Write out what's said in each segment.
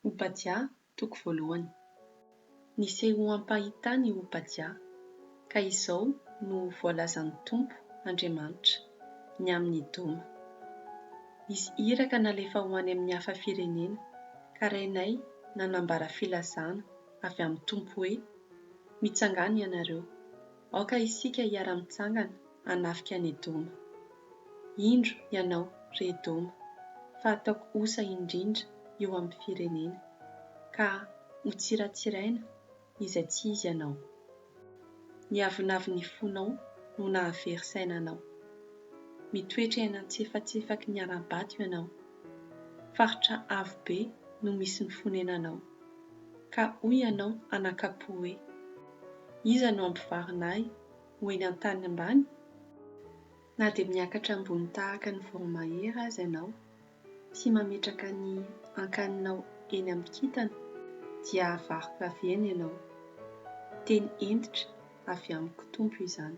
Obadia, toko voalohany. Nisehoam-pahitana i Obadia, ka izao no voalazan'ny Tompo Andriamanitra, ny amin'i Edoma, Izy iraka nalefa ho any amin'ny hafa firenena, ka renay nanambara filazana avy amin'ny Tompo hoe, Mitsangàna ianareo, Aoka isika hiara-mitsangana hanafika an'i Edoma. Indro ianao, ry Edoma, fa ataoko osa indrindra eo amin'ny firenena, ka hotsiratsiraina izay tsy izy anao. Ny avonavon'ny fonao no nahavery saina anao. Mitoetra eny an-tsefatsefaky ny ara-bato ianao. Faritra avo be no misy ny fonenanao. Ka hoy ianao an'Akapo hoe, Iza no hampivarina ahy ho eny an-tany ambany? Na dia miakatra ambony tahaka ny voromahery aza ianao, sy mametraka ny ankaninao eny amin'ny kintana, dia havariko avy eny ianao. Teny hentitra avy amiko Tompo izany.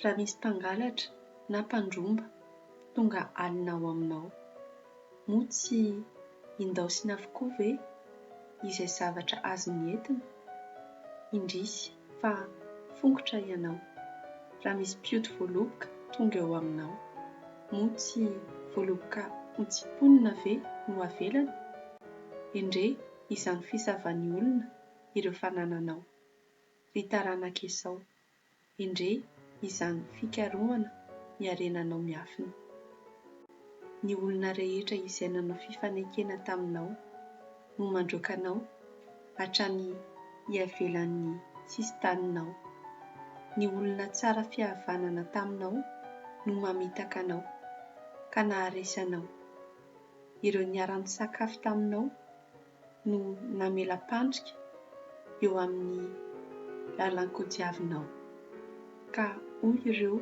Raha misy mpangalatra na mpandromba tonga alina ao aminao. Moa tsy indaosiny avokoa ve izay zavatra azony entina? Indrisy fa fongotra ianao. Raha misy mpioty voaloboka tonga eo aminao, moa tsy voaloboka hotsiponina ve no avelany? Endrey izany fisavan'ny olona ireo fanananao, ry taranak'Esao. Endrey izany fikarohana ny harenanao miafina. Ny olona rehetra izay nanao fifanekena taminao no mandroaka anao hatrany iavelan'ny sisin-taninao. Ny olona tsara fihavanana taminao no mamitaka anao ka naharesy anao. Ireo niara-nisakafo taminao no namela-pandrika eo amin'ny lalan-kodiavinao, ka hoy ireo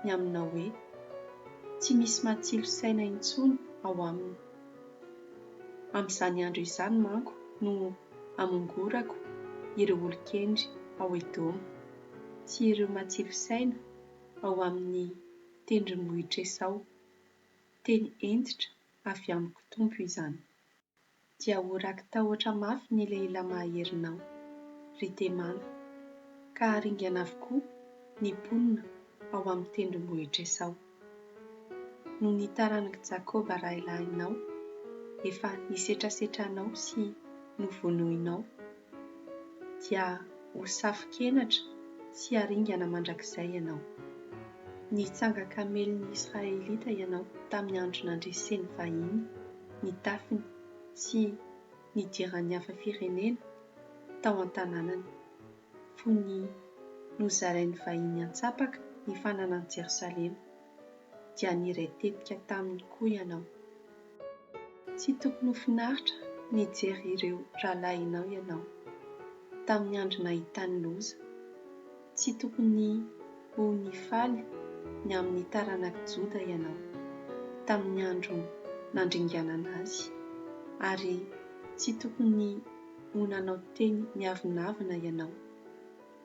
ny aminao hoe, Tsy misy matsilo saina intsony ao aminy. Amin'izany andro izany manko no hamongorako ireo olon-kendry ao Edoma, sy ireo matsilo saina ao amin'ny tendrombohitr'Esao. Teny hentitra avy amiko Tompo izany. dia ho raki-tahotra mafy ny lehilahy maherinao, ry Temàna, ka haringana avokoa ny mponina ao amin'ny tendrombohitr'Esao. Noho ny taranak'i Jakôba rahilahinao, efa nisetrasetra anao sy novonoinao dia ho safo-kenatra sy haringana mandrakizay ianao. Nitsanga kamelin' ny Israelita ianao tamin'ny andro nandresen'ny vahiny ny tafiny sy nidiran'ny hafa firenena tao an-tanànany, fony nozarain'ny vahiny an-tsapaka ny fananan'i Jerosalema, dia niray tetika taminy koa ianao. Tsy tokony ho finaritra nijery ireo rahalahinao ianao tamin'ny andro nahitany loza. Tsy tokony ho nifaly ny amin'ny taranak'i Joda ianao tamin'ny andro nandringanana azy, ary tsy tokony ho nanao teny miavonavona ianao.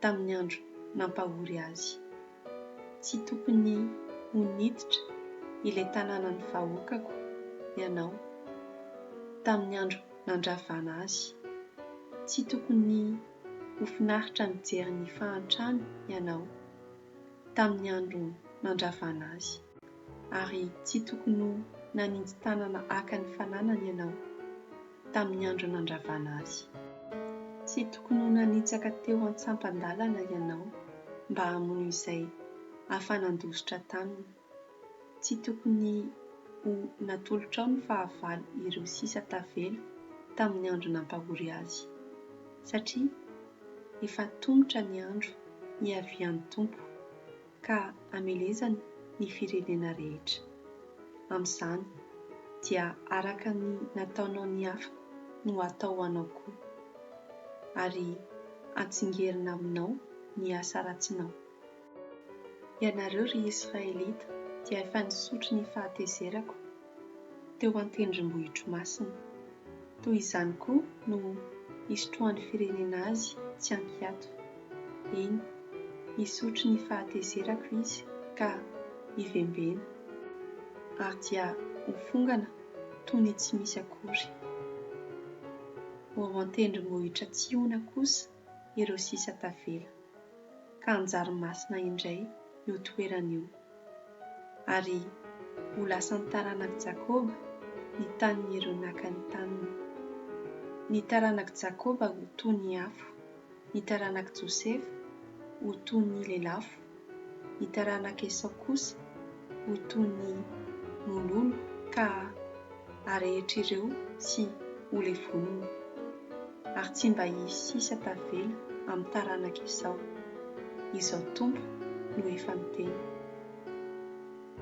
tamin'ny andro nampahory azy. Tsy tokony ho niditra ilay tanànan'ny vahoakako ianao, tamin'ny andro nandravana azy. Tsy tokony ho finaritra mijery ny fahantrany ianao, tamin'ny andro nandravana azy. Ary tsy tokony ho naninji-tanana haka ny fananany ianao. tamin'ny andro nandravana azy. Tsy tokony ho nanitsaka teo an-tsampan-dalana ianao mba hamono izay afa-nandositra taminy. Tsy tokony ho natolotrao ny fahavalo ireo sisa tavela tamin'ny andro nampahory azy, satria efa tomotra ny andro hiavian'ny Tompo. ka hamelezany ny firenena rehetra. Amin'izany, dia araka ny nataonao ny hafa no hatao anao koa, ary hatsingerina aminao ny asa ratsinao. Ianareo, ry Israelita, dia efa nisotro ny fahatezerako, teo an-tendrombohitromasina. Toy izany koa no hisotroan'ny firenena azy tsy an-kiato. Eny, hisotro ny fahatezerako izy ka hivembena, ary dia ho fongana toy ny tsy misy akory. Ho ao an-tendrombohitra Tsiona kosa ireo sisa tavela, ka hanjary masina indray io toerana io. ary ho lasan'ny taranak'i Jakoba ny tanin'ireo naka ny taniny. Ny taranak'i Jakoba ho toy ny afo, ny taranak'i Josefa ho toy ny lelafo, ny taranak'i Esao kosa ho toy ny mololo ka arehetra ireo sy ho levonina, ary tsy mba hisy sisa tavela amin'ny taranaka izao, Izao Tompo no efa niteny.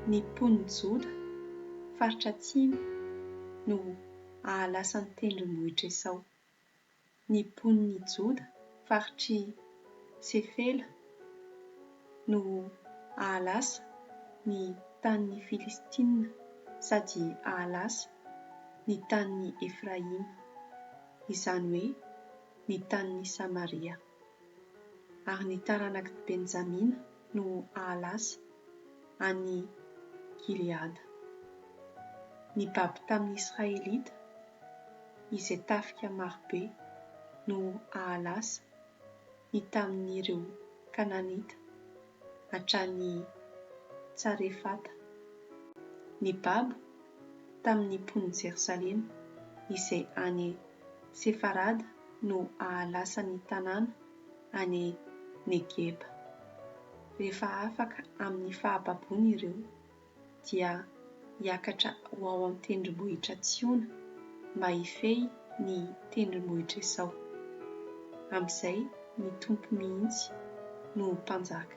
Ny mponin'i Joda, faritra atsimo, no hahalasa ny tendrombohitr'i Esao. ny mponin'i Joda, faritr'i Sefela, no hahalasa ny tanin'ny Filistina sady hahalasa ny tanin'i Efraima, izany hoe ny tanin'i Samaria. ary ny taranak'i Benjamina no hahalasa an'i Gileada. Nibaby tamin'ny Israelita izay tafika marobe no hahalasa ny tamin'ireo Kananita. hatrany Tsarefata, ny babo tamin'ny mponin'i Jerosalema, izay any Sefarada no hahalasa ny tanàna any Negeba, rehefa afaka amin'ny fahababoany ireo. dia hiakatra ho ao amin'ny tendrombohitra Tsiona mba hifehy ny tendrombohitra Esao. Amin'izay ny Tompo mihitsy no ho mpanjaka.